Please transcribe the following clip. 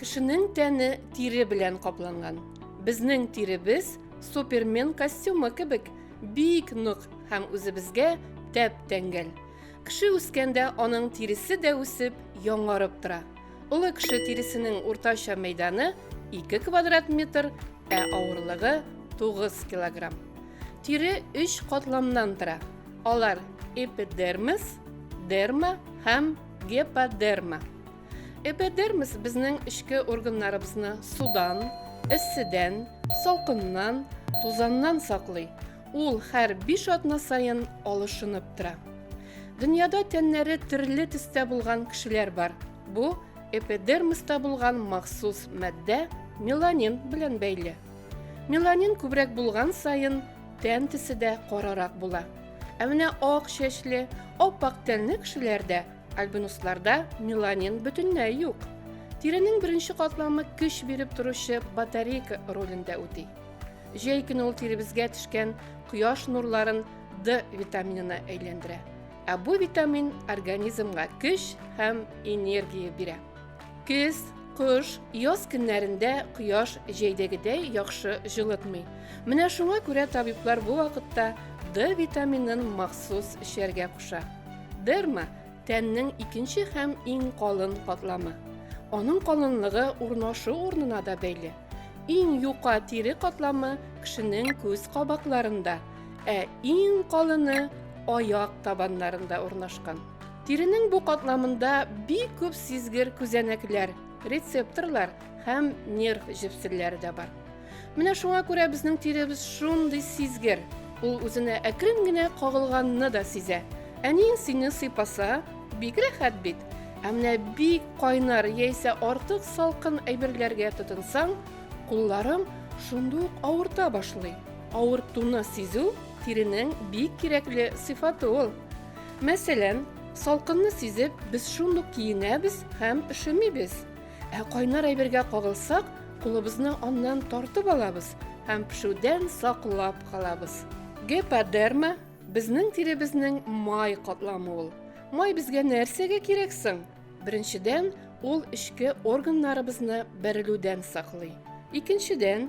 Кешенең тәне тире белән капланган. Безнең тиребез супермен костюмы кебек бик нык һәм үзебезгә тәп-тәңгәл. Кеше үскәндә аның тиресе дә үсеп, яңарып тора. Олы кеше тиресенең уртача мәйданы 2 квадрат метр, ә авырлыгы 9 килограмм. Тире 3 катламнан тора. Алар эпидермис, дерма һәм геподерма. Эпидермис безнең эчке органнарыбызны судан, эсседән, салкыннан, тузаннан саклый. Ул һәр биш атна сайын алышынып тора. Дөньяда тәннәре төрле төстә булган кешеләр бар. Бу эпидермиста булган махсус матдә меланин белән бәйле. Меланин күбрәк булган саен тән төсе дә карарак була. Ә менә ак чәчле, ап-ак тәнле кешеләрдә, альбинусларда меланин бөтенләй юк. Тиренең беренче катламы көч биреп торучы батарейка ролендә үти. Җәй көне ул тиребезгә төшкән кояш нурларын D витаминына әйләндерә. Ә бу витамин организмга көч һәм энергия бирә. Көз, кыш, яз көннәрендә кояш җәйдәгедәй яхшы җылытмый. Менә шуңа күрә табиблар бу вакытта D витаминын махсус эчәргә куша. Дерма тәннең икенче һәм иң калын катламы. Аның калынлыгы урнашу урнына да бәйле. Иң юка тире катламы кешенең күз кабакларында – Ә иң калыны аяк табаннарында урнашкан. Тиренең бу катламында бик күп сизгер күзәнәкләр, рецепторлар һәм нерв җепселләре дә бар. Менә шуңа күрә безнең тиребез шундый сизгер. Ул үзенә әкрен генә кагылганны да сизә. Әни сине сыйпаса, бик рәхәт бит. Ә менә бик кайнар яисә артык салкын әйберләргә тотынсаң, кулларың шундук авырта башлый. Авыртуны сизү тиренең бик кирәкле сыйфаты ул. Мәсәлән, салкынны сизеп, без шундук киенәбез һәм өшемибез. Ә кайнар әйбергә кагылсак, кулыбызны аннан тартып алабыз һәм пешүдән саклап калабыз. Геподерма безнең тиребезнең май катламы ул. Май безгә нәрсәгә кирәк соң? Беренчедән, ул эчке органнарыбызны бәрелүдән саклый. Икенчедән,